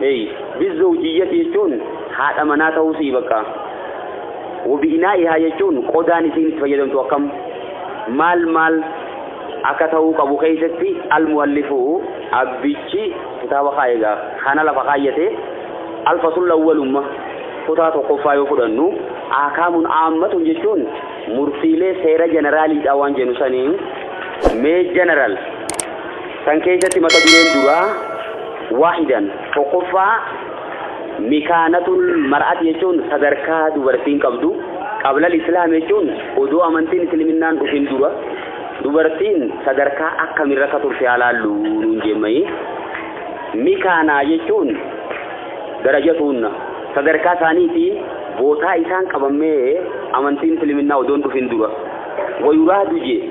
Hey, bizzawjiyyati jechuun haadha manaa ta'uu si'i bakka. Wabi'inaa'ihaa jechuun qodaan isiin itti fayyadamtu akkam maal maal akka ta'uu qabu keessatti almuhallifu abbichi kitaaba kaa'e egaa kana lafa kaayyate alfasulla awwalumma kutaa tokkoffaa yoo fudhannu aakaamun aammatun jechuun murtiilee seera jeneraaliidha waan jennu saniin mee jeneral san keessatti mata dureen duraa waahidan, tokkoffaa, mikaanatul mar'ati jechuun sadarkaa dubartiin qabdu, qablal islaam jechuun odoo amantiin isliminnaan dhufin dura dubartiin sadarkaa akkamirra akka turte haa laallu nuun jeemmayii. Mikaanaa jechuun darajatuunna sadarkaa isaaniiti bootaa isaan qabammee amantiin isliminnaa odoon dhufin dura wayuraadu jee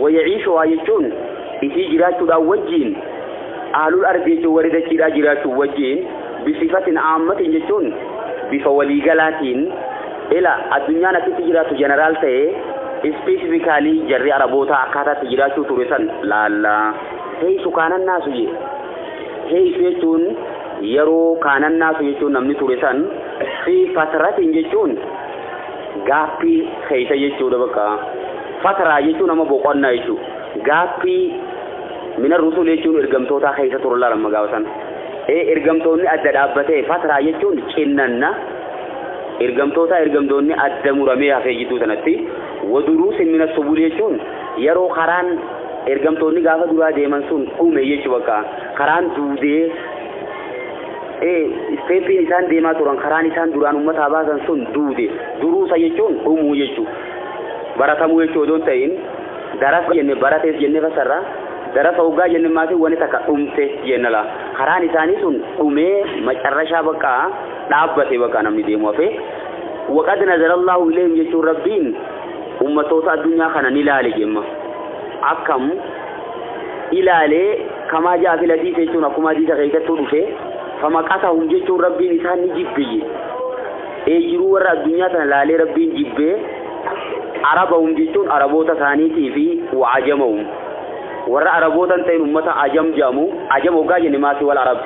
Wayaciishuhaa jechuun isii jiraachuudhaa wajjiin, Ahlul Ardi jechuun warri dachiidhaa jiraachuu wajjiin, Bisifatin Aammatin jechuun bifa waliigalaatiin, Ila, addunyaan akkitti jiraattu General ta'ee, Specifically jarri Arabootaa akkaataa itti jiraachuu ture san laalla. Heysu kaanan naasu je. Heysu jechuun yeroo kaanan naasu jechuun namni ture san, Fi fatratin jechuun Gaappii keessa jechuudha bakka. Fataraa jechuun amma boqonnaa jechuudha. Gaappii mina rusul jechuun ergamtootaa keessa turan laala amma gaafa sana. Ee ergamtoonni adda dhaabbatee fataraa jechuun cinnanna ergamtootaa ergamtoonni adda muramee hafee jidduu sanatti waduruusin mina subul jechuun yeroo karaan ergamtoonni gaafa duraa deeman sun dhume jechuu bakka karaan duudee e. Isteeppiin isaan deemaa turan karaan isaan duraan ummataa baasan sun duude. Duruusa jechuun dhumuu jechu. Baratamuu jechuu odoo hin ta'iin darasa jenne baratees jennee fassarra. Darasa hoggaa jenne maatiin wani takka dhumte jenna laa. Karaan isaanii sun dhumee macarrashaa bakka dhaabbate bakka namni deemu hafee. Waqad nazarallaahu ilayhim jechuun rabbiin ummatoota addunyaa kana ni laale jemma. Akkam ilaalee Kamaa ja'a fil hadiisa jechuun akkuma hadiisa keessattuu dhufe famaqatahum jechuun rabbiin isaan ni jibbiyye ee jiruu warra addunyaa tana laalee rabbiin jibbee arabahum jechuun araboota isaaniitii fi wa'ajamahum warra araboota hin ta'in ummata ajam jedhamu ajam hoggaa jenne maasii wal arab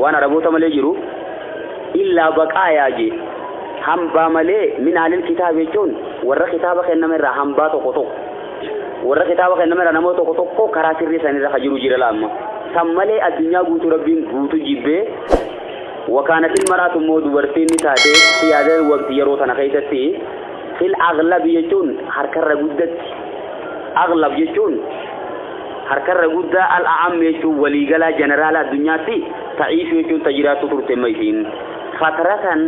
waan araboota malee jiru illaa baqaayaa jee hambaa malee min alil kitaab jechuun warra kitaaba kenname irraa hambaa tokko tokko Warra kitaaba kenname irraa namoota tokko tokko karaa sirrii san irra ka jiru jira laamma. San malee addunyaa guutuu rabbiin guutu jibbee wakaanatil maraatu immoo dubartiin ni taate siyaadal waqti yeroo tana keessatti fil aglabi jechuun harkarra guddatti aglab jechuun harkarra guddaa al a'am jechuun waliigalaa jeneraala addunyaatti ta'iishu jechuun tajiraattu turte ma isiin fatratan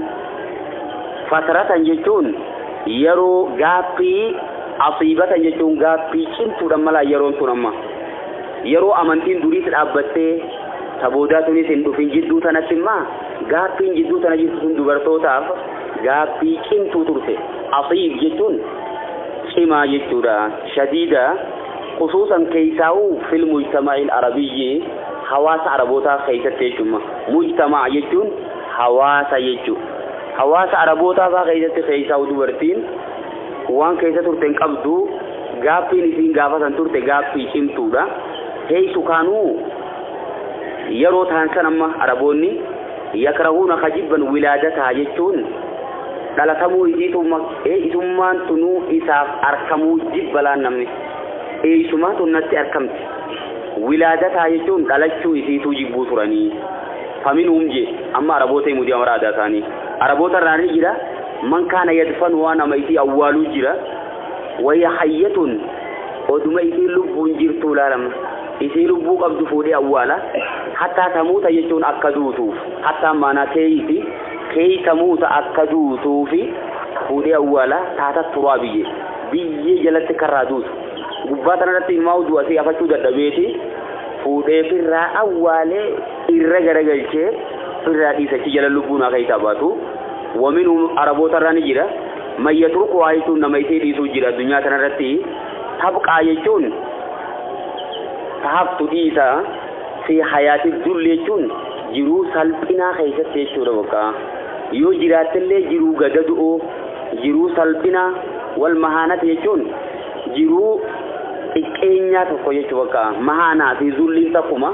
fatratan jechuun yeroo gaaffii Asiibatan jechuun gaaffii cimtuudhan malaa yeroon tun amma. Yeroo amantiin duriis dhaabbattee ta boodaa tunis hin dhufin jidduu tanatti immaa gaaffiin jidduu tana jirtu tun dubartootaaf gaaffii cimtuu turte. Asiib jechuun cimaa jechuudha. Shadiida khusuusan keessaa'u fil mujtama'il arabiyyi hawaasa arabootaa keessatti jechuumma. Mujtama'a jechuun hawaasa jechuu. Hawaasa arabootaa faa keessatti keessaa'u dubartiin Waan keessa turte hin qabdu. Gaaffiin isiin gaafa san turte gaaffii cimtuudha. Heeysu kaanuu yeroo tahan san amma Araboonni yakrahuuna ka jibban wilaadataha jechuun dhalatamuu isiitu isummaan tunuu isaaf arkamuu jibba laan namni. Eeysumaa tun natti arkamti. Wilaadataha jechuun dhalachuu isiituu jibbuu turanii. Faminhum je amma Araboota himuu deema bara aadaa isaanii. Araboota irraa ni jira man kaana yadfanu waa nama isii awwaaluu jira wahiya hayyatun oduma isiin lubbuun jirtuu laalama isii lubbuu qabdu fuudhee awwaala hattaa tamuuta jechuun akka duutuuf hattaan maanaa keeyiiti keeyi tamuuta akka duutuufi fuudhee awwaala taata turaa biyye biyyee jalatti karraa duutu gubbaa tanarratti ilmaa uduu asii afachuu dadhabeeti fuudhee firraa awwaalee irra garagalchee irraa dhiisa achi jala lubbuun haa keessaa baatu waminhum araboota irraa ni jira man yatruku haa jechuun nama isee dhiisuu jira addunyaa tanarratti tabqaa jechuun tahaftu dhiisa fi hayaati dulli jechuun jiruu salphinaa keessatti jechuudha bakka yoo jiraattillee jiruu gadadu'oo jiruu salphinaa wal mahaanati jechuun jiruu xiqqeenyaa tokko jechuu bakka mahaanaa fi zulliin takkuma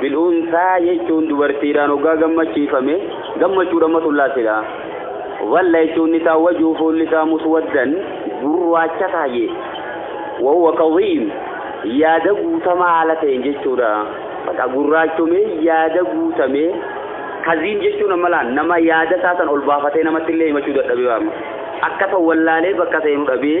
Bil'uunsaa jechuun dubartiidhaan hoggaa gammachiifame gammachuu dhamatu llaasila. Dhalla jechuun nisaa wajuu fuulli isaa muswaddan gurraacha taa'e. Wahuwa kadhiim yaada guutamaa haala ta'een jechuudha. Baqa gurraachomee yaada guutamee kaziim jechuun ammalaa nama yaada isaa san ol baafatee namatti illee himachuu dadhabee waama. Akka san wallaalee bakka seenu dhabee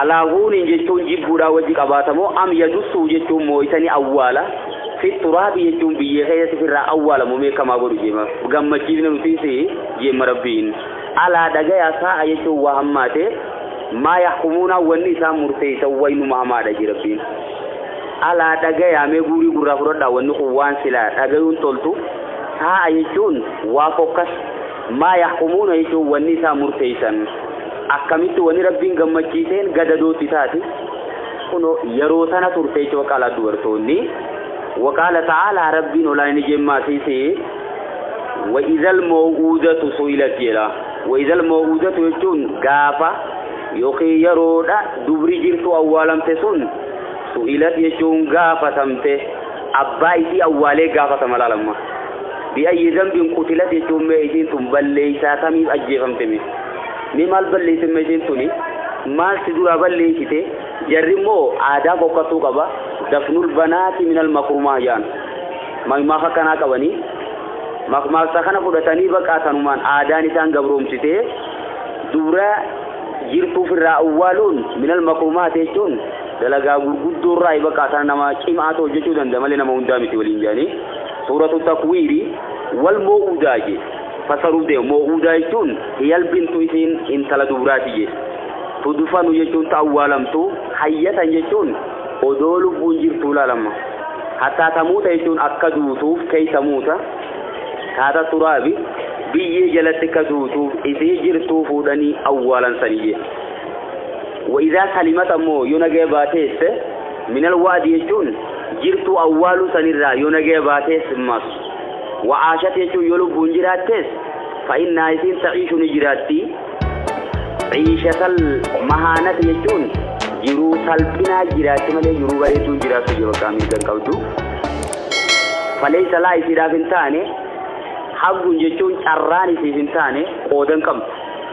Alaahuuniin jechuun jibbuudhaa wajji qabaata moo am yadussuu jechuun moo'isanii awwaala fi turaabi jechuun biyyee keessatti firraa awwaalamu meekamaa godhu jeema gammachiifne nutis jeema rabbiin alaa dhagayaa saa'a jechuun waa hammaate maa yahkumuunaa wanni isaan murteessan waynuma hamaadha jee rabbiin alaa dhagayaa mee guurii gurraa fudhadhaa wanni kun waan silaa dhagayuun toltu saa'a jechuun waa fokkas Maa yahkumuuna jechuun wanni isaan murteeysan akkamitti wanni Rabbiin gammachiiseen gadadoo itti taati? Kunoo yeroo tana turte jecha waqaalaa dubartoonni. Waqaala ta'aalaa Rabbiin olaa inni jeen maasiisi wa idhal maw'uudatu su'ilat jedha. Wa idhal maw'uudatu jechuun gaafa yookiin yeroodha dubri jirtu awwaalamte sun su'ilat jechuun gaafatamte. Abbaa isii awwaalee gaafatama laal amma. Bi ayyi zambin qutilat jechuun mee isiin tun balleessaa tamiif ajjeefamte mee. Mee maal balleesse mee isiin tuni maal si duraa balleessite jarri immoo aadaa fokkattuu qaba dafnul banaati minal makrumaa jaan. Makmaaka akkanaa qabanii makmaaksa kana fudhatanii baqaa tanumaan aadaan isaan gabroomsitee dubra jirtuuf irraa awwaaluun minal makrumaati jechuun Dalagaa gurguddoo irraa ibaqaa sana nama cimaa ta'u hojjechuu danda'a malee nama hundaa miti waliin jedhanii suuratu takwiiri wal moo'uudaa je fasaruuf deema moo'uudaa jechuun hiyal bintu isiin intala dubraati je tudufanu jechuun ta awwaalamtu hayyatan jechuun odoo lubbuun jirtuu laalamma hattaa tamuuta jechuun akka duutuuf keessa muuta taata turaabi biyyee jalatti akka duutuuf isii jirtuu fuudhanii awwaalansanii je Wa'idaa salimat ammoo yoo nagaya baateesse minal wa'di jechuun jirtuu awwaaluu sanirraa yoo nagaya baatees mas wa'aashat jechuun yoo lubbuun jiraattees fa'innaa isiin ta'iishu ni jiraatti ciishatal mahaanat jechuun jiruu salphinaa jiraatti malee jiruu bareedduu jiraattu jira bakka mirga hin qabdu faleessa laa isiidhaaf hin taane haggun jechuun carraan isiif hin taane qoodan qabdu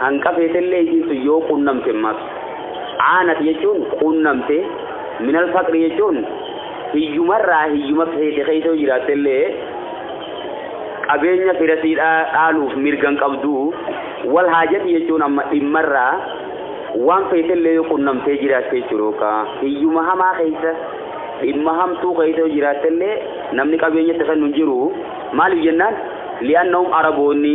Hanqa feetellee isiin sun yoo qunnamte maf. Aanat jechuun qunnamte, minal faqri jechuun hiyyumarraa hiyyuma feete keessa yoo jiraattellee qabeenya fira sii dhaaluuf mirga hin qabdu. Wal haajati jechuun amma dhimmarraa waan feetellee yoo qunnamtee jiraatte jechuudha yookaan hiyyuma hamaa keessa dhimma hamtuu keessa yoo jiraattellee namni qabeenya itti kennu hin jiru. Maaliif jennaan li'aannahum araboonni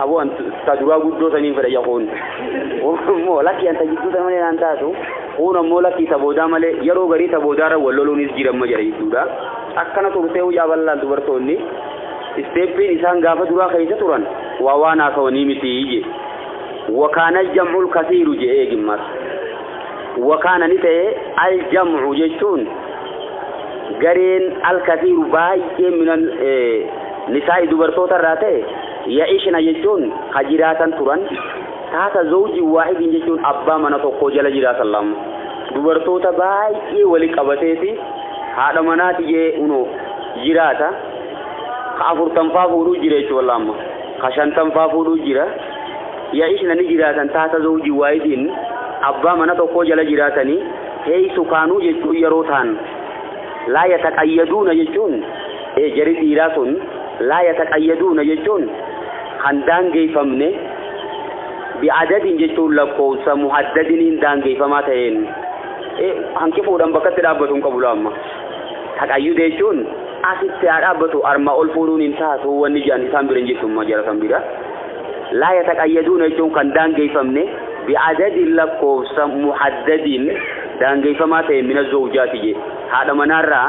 Aboo an ta duraa guddoo saniin fedha ija kuun. Immoo lakkii an ta jidduu sana malee naan taatu. Kuun ammoo lakkii ta boodaa malee yeroo garii ta boodaarra wal loluunis jiramma jedha jidduudha. Akkana turtee hojaa bal'aan dubartoonni isteeppiin isaan gaafa duraa keessa turan waa waan haasawanii miti je. Wakaana jam'ul kasiiru je eegimmas. Wakaana ni ta'e al jam'u jechuun gareen al kasiiru baay'ee minan Nisaa'i dubartoota irraa ta'e, ya'ishna jechuun ka jiraatan turan, taata zawjin waahidin jechuun abbaa mana tokkoo jala jiraatan lama. Dubartoota baay'ee wali qabateeti haadha manaa tiyee unoo jiraata. Ka afurtanfaa fuudhuu jira jechuu wallah amma. Ka shantanfaa fuudhuu jira. Ya'ishna ni jiraatan taata zawjin waahidin abbaa mana tokkoo jala jiraatanii heeysu kaanuu jechuun yeroo taan. Laa yataqayyaduuna jechuun e Jarri dhiiraa sun laa yataqayyaduuna jechuun kan daangeeffamne bi'adadin jechuun lakkoofsa muhaddadiniin daangeeffamaa ta'een e hanqifuudhaan bakkatti dhaabbatu hin qabu laamma. Taqayyuda jechuun asitti haa dhaabbatu armaa ol fuudhuun hin taatu wanni jedhan isaan bira hin jirtu amma jara san bira. Laa yataqayyaduuna jechuun kan daangeeffamne bi'adadin lakkoofsa muhaddadin daangeeffamaa ta'een mina zawjaati jee haadha manaarraa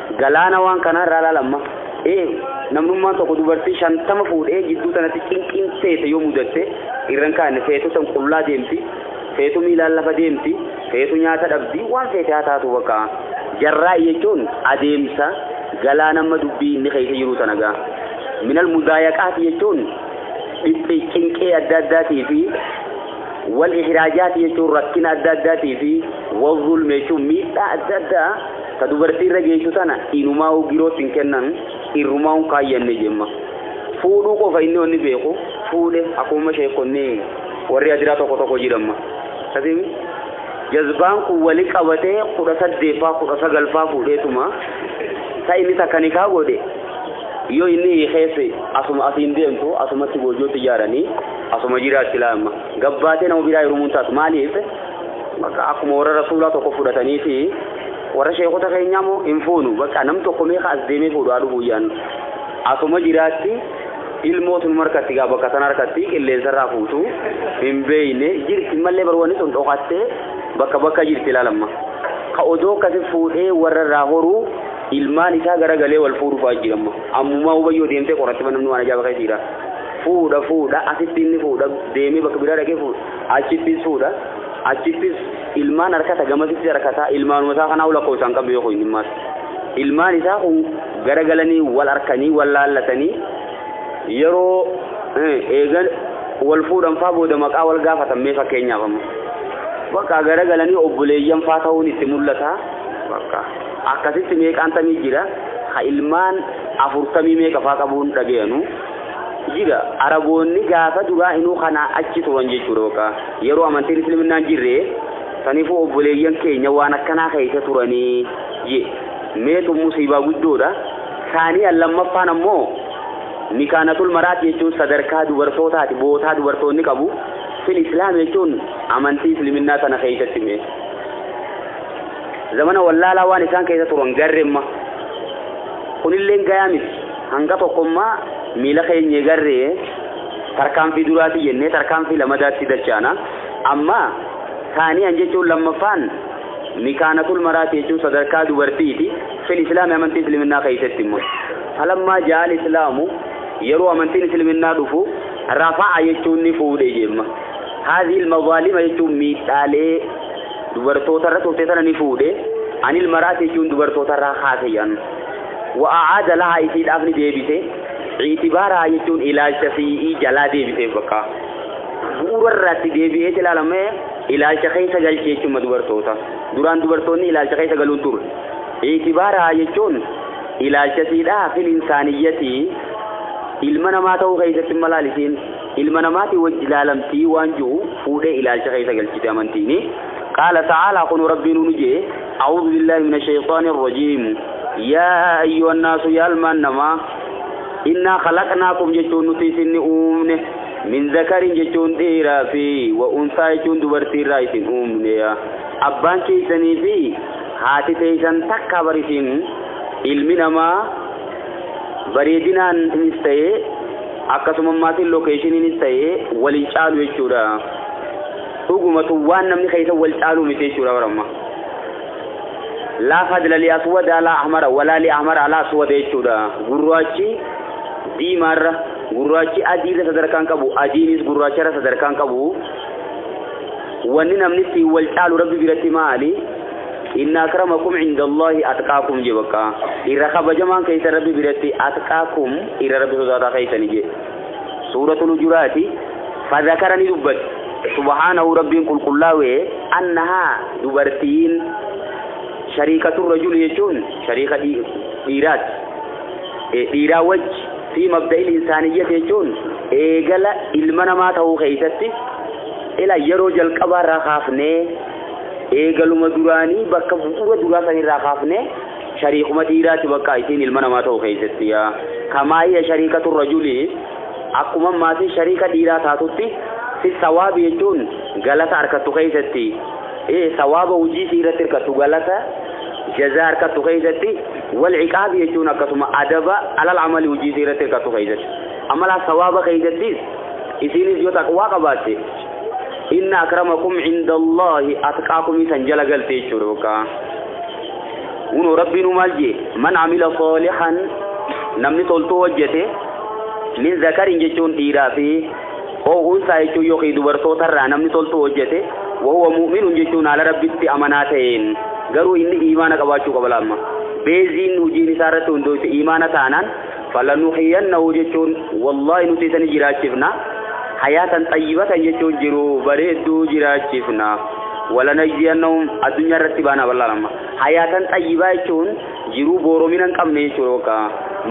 Galaana waan kanaa irraa ilaala amma. Ee, namnummaan tokko dubartii shantama fuudhee jidduu tanatti cinqiin feete yoo mudatte irra hin kaanne feetu san qullaa deemti, feetu miilaan lafa deemti, feetu nyaata dhabdi, waan feete haa taatu bakka. Jarraa'i jechuun adeemsa galaana amma dubbii inni keessa jiru tana gaa. Minal mudaayaqaati jechuun dhiphi cinqee adda addaatii fi wal ihiraajaati jechuun rakkina adda addaatii fi wal zulme jechuun miidhaa adda addaa Ta dubartii irra geessu tana inumaa'uu girootti hin kennanu, irrumaa'uu hin kaayyanne jemma. Fuudhuu qofa inni wanni beeku fuudhe akkumuma sheekkonni warri adiraa tokko tokko jedhamma. Akkasiimi jazbaan kun wali qabatee kudha saddeeffaa kudha sagalfaa fuudheetuma ta inni takka nikaa godhe yoo inni hiikeesse asuma asiin deemtu asumatti goojjootti ijaaranii asuma jiraatti laamma. Gabbaatee nama biraa hirumuun taatu maaliif? Bakka akkuma warra rasuulaa tokko fudhatanii fi Warra sheekota keenyaa moo hin fuunu baqqaa nam tokko mee ka as deemee fuudhu haa dhufu iyyaan asuma jiraatti ilmootu numa harkatti gaa bakka sana harkatti qilleensa irraa fuutu hin beeyne jirti mallee barwani sun dhokattee bakka bakka jirti ilaalamma ka odoo akkasi fuudhee warra irraa horuu ilmaan isaa garagalee wal fuudhu fa'aa jiramma ammumaa hubayyoo deemtee qoratti namni waan ajaa'ibaa keessa jira fuudha fuudha asitti inni fuudha deemee bakka biraa dhaqee fuudha achittis fuudha Achittis ilmaan arkata gamasitti arkata ilmaanuma isaa kanaa lakkoofsa hin qabne yoo kun dhimmaas ilmaan isaa kun garagalanii wal arkanii wal laallatanii yeroo eegan wal fuudhan faa booda maqaa wal gaafatan mee fakkeenyaaf amma bakka garagalanii obboleeyyan faa ta'uun itti mul'ata bakka akkasitti meeqaan tamii jira ha ilmaan afurtamii meeqa faa qabuun dhagayanu jira araboonni gaafa duraa inuu kanaa achi turan jechuudha bakka yeroo amantiin isliminnaan jirre saniifuu obboleeyyan keenya waan akkanaa keessa turanii je meetu musiibaa guddoodha saanii lammaffaan ammoo mikaanatul maraati jechuun sadarkaa dubartootaati bootaa dubartoonni qabu fil islaam jechuun amantii isliminnaa sana keessatti mee Zamana wallaalaa waan isaan keessa turan garremma. Kunilleen gayaa miti. Hanga tokkommaa miila keenyee garree tarkaanfii duraati jennee tarkaanfii lamadaatti dachaana. Amma saaniyan jechuun lammaffaan mikaanatul maraati jechuun sadarkaa dubartiiti. Fil islaami amantii isliminaa keessatti immoo. Falammaa jaal islaamu yeroo amantiin isliminaa dhufu rafa'a jechuun ni fuudhe jemma. Haazihil mazaalima jechuun miidhaalee dubartoota irra turte sana ni fuudhe anil maraati jechuun dubartoota irraa kaase jedhan wa'aada lahaa isiidhaaf ni deebise ciitibaaraa jechuun ilaalcha si'ii jalaa deebiseef bakka bu'uura irratti deebi'eet ilaalamee ilaalcha keessa galche jechuun dubartoota duraan dubartoonni ilaalcha keessa galuun ture ciitibaaraa jechuun ilaalcha siidhaa fil insaaniyyatii ilma namaa ta'uu keessatti malaalisiin ilma namaatii wajji laalamtii waan ji'u fuudhee ilaalcha keessa galchite amantiini qaala ta'aalaa kunu rabbiin unu jee a'uudhu billaahi mina shayxaani irrajiim yaa ayyuu annaasu yaa ilmaan namaa innaa khalaqnaakum jechuun nuti isinni uumne min zakarin jechuun dhiiraa fi wa unsaa jechuun dubartiirraa isin uumne abbaan keessanii fi haati teeysan takka barisiin ilmi namaa bareedinaaninis ta'ee akkasumammaatiin lookeeshiniinis ta'ee wal hin caalu jechuudha. Dhugumatu waan namni keessa wal caalu miti jechuudha baramma. Laa fadla li aswada alaa ahmara walaa li ahmara alaa aswada jechuudha. Gurraachi diimaarra gurraachi adiirra sadarkaan qabu adiinis gurraacharra sadarkaan qabu. Wanni namni ittiin wal caalu rabbi biratti maali? Inna akramakum indallahi atqaakum je bakka irra kabajamaan keeysan rabbi biratti atqaakum irra rabbi sodaataa keeysani je suuratul hujuraati fadhakara ni dubbate subhaanahu rabbiin qulqullaawee annahaa dubartiin shariikatu rajuli jechuun shariika dhii- dhiiraati Eh, dhiiraa wajji fi mabda'il insaaniyyati jechuun eegala ilma namaa ta'uu keeysatti ila yeroo jalqabaarraa kaafnee Eegaluma duraanii bakka bu'uura duraa san irraa kaafnee shariikuma dhiiraati bakka isiin ilma namaa ta'u keessatti yaa kamaa hiya shariikatu rajuli akkuma maatiin shariika dhiiraa taatutti fi sawaabi jechuun galata arkattu keessatti ee sawaaba hojii isii irratti hirkattu galata jazaa arkattu keessatti wal ciqaabi jechuun akkasuma adaba alal amali hojii isii irratti hirkattu keessatti amalaa sawaaba keessattis isiinis yoo taqwaa qabaatte inna akramakum inda allahi atqaakum isan jala galte jechuudha bakka unoo rabbiinu maal jee man amila saalihan namni toltuu hojjete min zakarin jechuun dhiiraa fi oo unsaa jechuun yookiin dubartootarraa namni toltuu hojjete wahuwa mu'minun jechuun haala rabbitti amanaa ta'een garuu inni iimaana qabaachuu qaba laamma beeziin hojiin isaa irratti hundooyte iimaana taanaan فلنحيينه jechuun wallahi nuti isani jiraachifna hayaatan xayyibatan jechuun jiru bareedduu jiraachifna walanajziyannahum addunyaa irratti baana bal'aa lama hayaatan xayyibaa jechuun jiruu booromina hin qabne jechuudha bakka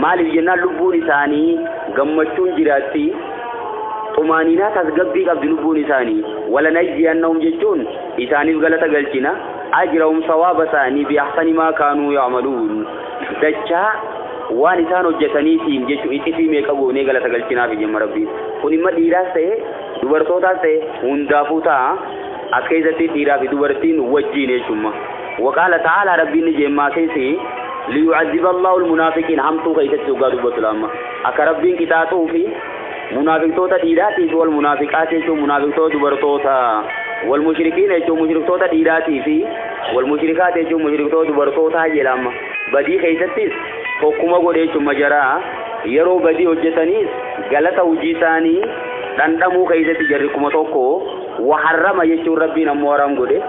maaliif jennaan lubbuun isaanii gammachuun jiraatti xumaaniinaa tasgabbii qabdi lubbuun isaanii walanajziyannahum jechuun isaaniif galata galchina ajrahum sawaaba isaanii bi ahsani maa kaanuu ya'maluun dachaa waan isaan hojjetaniitiin jechuun ixifii meeqa goonee galata galchinaaf jemma rabbiin kun imma dhiiraas ta'e dubartootaas ta'e hundaafuu ta'a as keessatti dhiiraa fi dubartiin wajjiin jechuumma waqaala ta'aalaa rabbiin ni jeemmaa keessi liyu'azziba allahu almunaafiqiin hamtuu keessatti dhugaa dubbatu laamma akka rabbiin qixaaxuu fi Munaafiqtoota dhiiraatii fi wal munaafiqaati jechuun munaafiqtoota dubartoota wal mushrikiina jechuun mushriktoota dhiiraatii fi wal mushrikaati jechuun mushriktoota dubartootaa jedha amma badii keessattis tokkuma godhe jechuun majaraa yeroo badii hojjetaniis galata hojii isaanii dhandhamuu keessatti jarri kuma tokko waharrama jechuun rabbiin ammoo haram godhe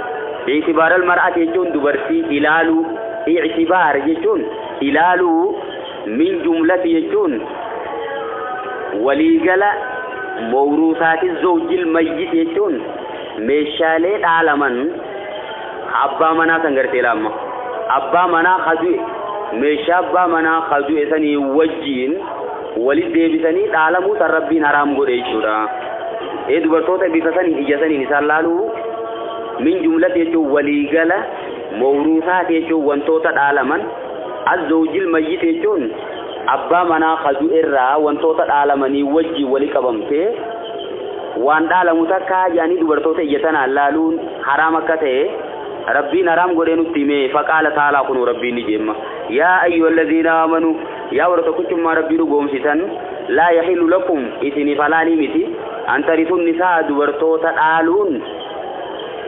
itibaaral mar'ati jechuun dubartii ilaaluu itibaar jechuun ilaaluu Min jumlati jechuun waliigala mowruusaati zawjil mayyit jechuun meeshaalee dhaalaman ka abbaa manaa san gartee laamma abbaa manaa ka du'e meeshaa abbaa manaa ka du'e sanii wajjiin walit deebisanii dhaalamuu san rabbiin haraam godhe jechuudha. Ee dubartoota bifa saniin ija saniin isaan laaluu min jumlati jechuun waliigala mowruusaati jechuun wantoota dhaalaman Azzowjil mayyit jechuun abbaa manaa ka du'erraa wantoota dhaalamanii wajjiin wali qabamte waan dhaalamu takka jedhanii dubartoota ija tanaan laaluun haraam akka ta'e Rabbiin haraam godhee nutti hime faqaala taalaa kunuu Rabbiin ni jeemma yaa ayyuhallaziina aamanu yaa warra tokkichummaa Rabbii dhugoomsitan laa yahilu lakum isiniif halaalii miti an tarithun nisaa dubartoota dhaaluun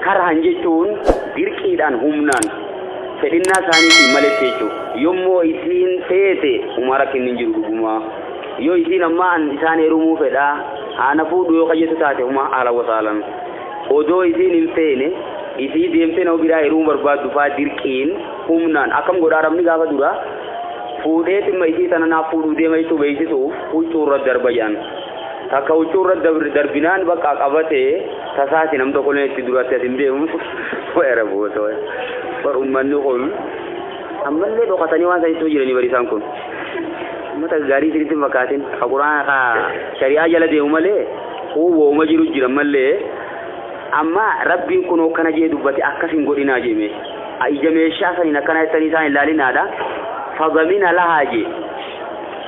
karhan jechuun dirqiidhaan humnaan Fedhinnaa isaaniitiin maletti jechuun. Yommoo isiin feete humaa rakkinni hin jiru dhugumaa. Yoo isiin ammaa an isaan heerumuu fedhaa haa na fuudhu yoo kayyetu taate humaa ahlan wasaalan. Odoo isiin hin feene isii deemtee nama biraa heerumuu barbaaddu faa dirqiin, humnaan, akkam godha Arabni gaafa duraa fuudhee timma isii tana naaf fuudhuu deema jechuu beeksisuuf huccuurra darba jedhan. Takka huccuu irra dabr- darbinaan bakka qabatee tasaati nam tokko illee itti duratti as hin deemu. Weera buusa waya. Bar ummanni kun ammallee dhokatanii waan sanitti hojjetanii bari isaan kun. Ummata gaarii isinitti hin fakkaatin. Ka Qur'aana ka shari'aa jala deemu malee kun wooma jiru jira malee amma rabbiin kun akkana jee dubbate akkas hin godhinaa jeme. A ija meeshaa saniin akkana jettanii isaan hin laalinaadha. Fadamina lahaa jee.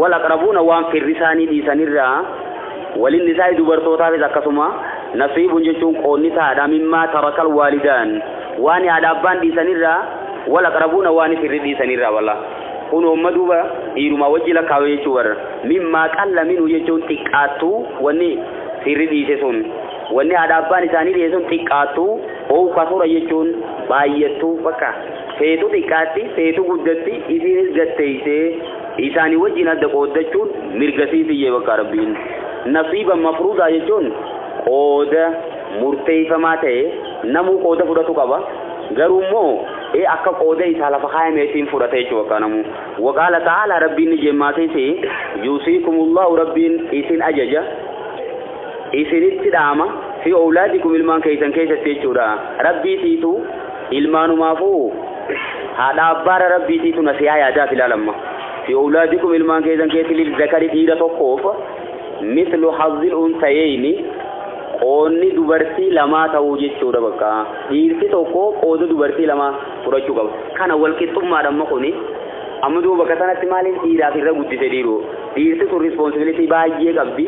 Wal aqrabuuna waan firri isaanii dhiisan irraa, walin nisaa'i dubartootaafis akkasuma, nasiibun jechuun qoodni ta'aadha mimmaa tarakal waalidaan waani haadha abbaan dhiisan irraa, wal aqrabuuna waani firri dhiisan irraa wala. Kunoo amma duuba dhiirumaa wajji lakkaawe jechuu bar. Mimmaa qalla minhu jechuun xiqqaattu wanni firri dhiise sun. Wanni haadha abbaan isaanii dhiise sun xiqqaattu Oow kasura jechuun baayyattu bakka feetu xiqqaatti feetu guddatti isiinis gad teeysee isaanii wajjiin adda qooddachuun mirga siifiyye bakka Rabbiin nasiiban mafruudaa jechuun qooda murteeyfamaa ta'e namuu qooda fudhatu qaba garuu immoo ee akka qooda isaa lafa kaayameetiin fudhata jechuu bakka namuu waqaala ta'aala Rabbiin ni jemmaatee ta'e yuusiikumullahu Rabbiin isin ajaja isinitti dhaama, fi owlaadikum ilmaan keeysan keeysatti jechuudha. Rabbii tiitu ilmaanumaafuu haadha abbaara Rabbii tiitu nasihaa yaadaaf ilaal amma. Fi owlaadikum ilmaan keeysan keetti lil zakari dhiira tokkoof mislu hazzil unsayeyni qoonni dubartii lamaa ta'uu jechuudha bakka. Dhiirti tokko qooda dubartii lamaa fudhachuu qaba. Kana walqixxummaadha amma kuni. Amma duuba bakka sanatti maaliif dhiiraaf irra guddise dhiiru? Dhiirti sun responsibility baay'ee qabdi.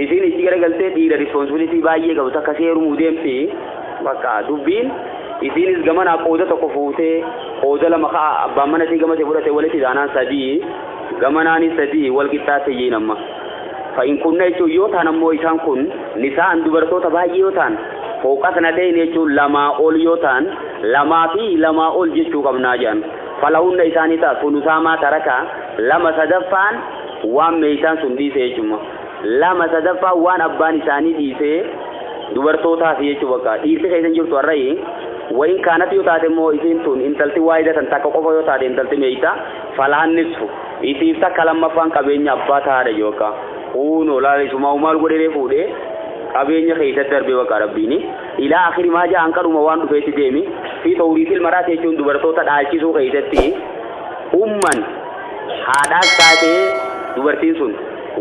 Isiin itti garagaltee dhiira responsibility baay'ee qabu takka si heerumuu deemti bakka dubbiin isiinis gamanaa qooda tokko fuutee qooda lama ka'a abbaan mana isii gama isii fudhate walitti taanaan sadii gamanaanis sadii wal qixxaatte jiin amma. Fa'in kunna jechuun yoo ta'an ammoo isaan kun nisaan dubartoota baay'ee yoo ta'an fooqas na ta'in jechuun lamaa ol yoo ta'an lamaa fi lamaa ol jechuu qabnaa jedhan. Falahunna isaanii ta'a sunusaamaa taraka lama sadaffaan waan meeshaan sun dhiise jechuudha. 2 sadaffaan waan abbaan isaanii dhiisee dubartootaaf jechuu bakka dhiirti keessan jirtu har'ayi wayin kaanatti yoo taate immoo isiin tun intalti waayida tan takka qofa yoo taate intalti meeyta falaan nisfu isiif takka lammaffaan qabeenya abbaa tahaadha jechuu bakka kuunoo laala isumaa maal godhee fuudhee qabeenya keessa darbee bakka rabbiini ilaa akiri maa ja'an kadhuma waan dhufeetti deemi fi tawriitil maraati jechuun dubartoota dhaalchisuu keessatti umman Haadhaas taate dubartiin sun,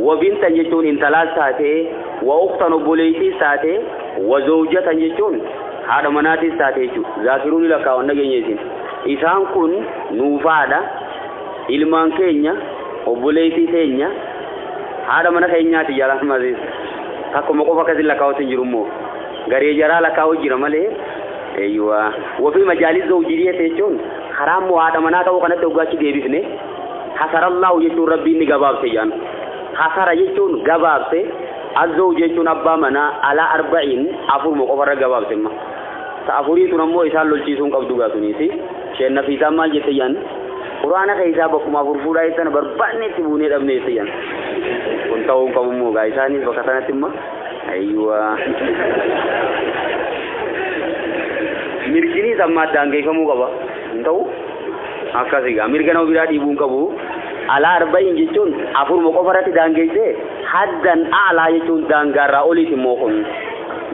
wa bintan jechuun intalaas taate, wa ukhtan obboleeytiis taate, wa zawjatan jechuun haadha manaatiis taate jechuudha. Zaakiruun ni lakkaa'aman dhageenye isin. Isaan kun nuuf haadha, ilmaan keenya, obboleeytii teenya, haadha mana keenyaati jalaan maziis. Takkuma qofa akkasin lakkaa'utti hin jiru immoo. Garee jaraa lakkaa'u jira malee. Eeyyuwaa. Wafii majaalis zawjii jechuun Karaa immoo haadha manaa ta'uu kanatti hoggaa achi deebifne hasarallaahu jechuun rabbiin ni gabaabse jedhan. Hasara jechuun gabaabse, azzawju jechuun abbaa manaa alaa arba'iin afuruma qofarra gabaabse amma. Ta afurii tun ammoo isaan lolchiisuun qabdu gaa tuniisi. Isheen nafiisaan maal jette jedhan? Quraana keessaa bakkuma afur fuudhaa jettana barbaanne itti buunee dhabne jette jedhan. Kun ta'uu hin qabu immoo gaa isaanis bakka sanatti immoo Ayiwa. Mirginiis amma addaan geeffamuu qaba. Hin ta'u? Akkasii gaa mirga nama biraa dhiibuu hin qabu. Alaa arba'iin jechuun afuruma qofa irratti daangeessee haddan aalaa jechuun daangaarraa oliiti immoo kun.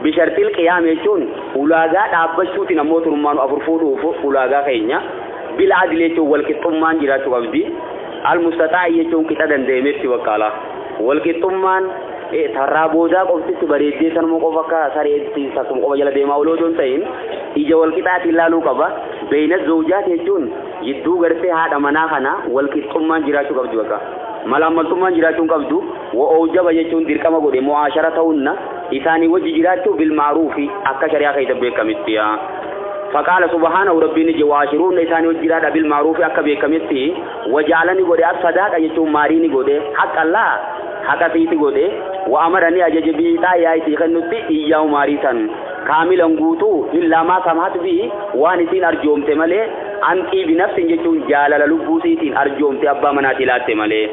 Bishartil qiyaam jechuun ulaagaa dhaabbachuutiin ammoo turmaanu afur fuudhuuf ulaagaa keenya. Bil adil jechuun walqixxummaan jiraachuu qabdi. Al mustaxaa jechuun qixa danda'ametti bakkaalaa. Walqixxummaan Tarraa boodaa qofti itti bareeddee sanuma qofa akka sareetti sassuma qofa jala deemaa oloo otoo hin ta'in ija wal qixaatiin ilaaluu qaba. Beeyinat zawjaat jechuun jidduu gartee haadha manaa kana wal qixxummaan jiraachuu qabdi bakka. Malaammaltummaan jiraachuu hin qabdu. Wa awjaba jechuun dirqama godhe mu'aashara ta'unna isaanii wajji jiraachuu bil ma'ruufi akka shari'aa keessa beekametti. Faqaala subhaanahu rabbiin ni jedhe wa'aashiruunna isaanii wajji jiraadha bil ma'ruufi akka beekametti wa ja'ala ni godhe as sadaaqa jechuun maarii ni godhe haqqa Allah haqa siiti godhe wa amara ni ajaje bi ixaa yaa isii kennutti iyyaa umaarii san kaamilan guutuu illaa maa samhat bi waan isiin arjoomte malee an xiibi nafsin jechuun jaalala lubbuu siitiin arjoomte abbaa manaatii laatte malee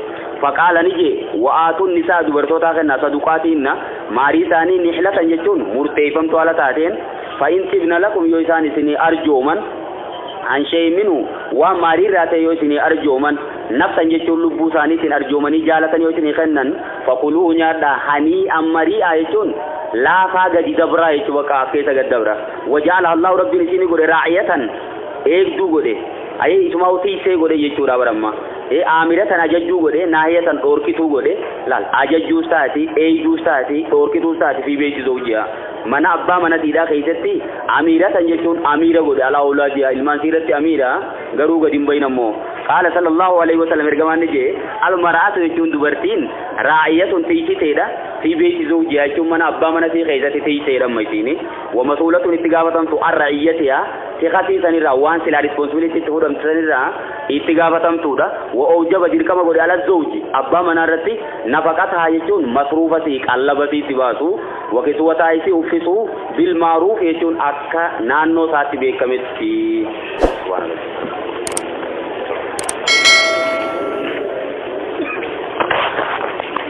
faqaala ni jee wa aatun nisaa dubartootaa kennaa saduqaatiinna maarii isaanii nihlatan jechuun murteeyfamtu ala taateen fa in xibna lakum yoo isaan isinii arjooman An shey minu waan maari irraa ta'e yoo isinii arjooman, nafsan jechuun lubbuu isaaniitiin arjoomanii jaalatan yoo isinii kennan, fakuluuhu nyaadhaa, hanii'an marii'aa jechuun laafaa gadi dabraa jechuu baqaa as keessa gad dabra. Waja'alaha Allaahu Rabbiin isii ni godhe raa'iyatan eegduu godhe, ayii isumaahu tiysee godhe jechuudha bar amma. Ee aamiratan ajajjuu godhe, naahiyatan dhoorkituu godhe, laal ajajjuus taati, eeyduus taati, dhoorkituus taati fii beeyti zawjihaa. Mana abbaa mana siidhaa keessatti amiira san jechuun amiira godhe alaa awlaadiyaa ilmaan siirratti amiira garuu gadi hin bahin ammoo qaala sallallahu alaihi wasallam ergamaan ni jee almara'atu jechuun dubartiin raa'iyatun tiysiteedha fi beeyti zawjiyaa jechuun mana abbaa mana sii keessatti tiyseedha amma isiini wamasuulatun itti gaafatamtu arra'iyyatiyaa tikasii sanirraa waan silaa risponsibilitii itti fudhamtu sanirraa itti gaafatamtuudha wa oojaba dirqama godhe ala zawji abbaa manaa irratti nafaqataa jechuun masruufasii qallabasii itti baasu Wa kisiwataa isii uffisuu bil maaruuf jechuun akka naannoo isaatti beekametti. Subhaanallah.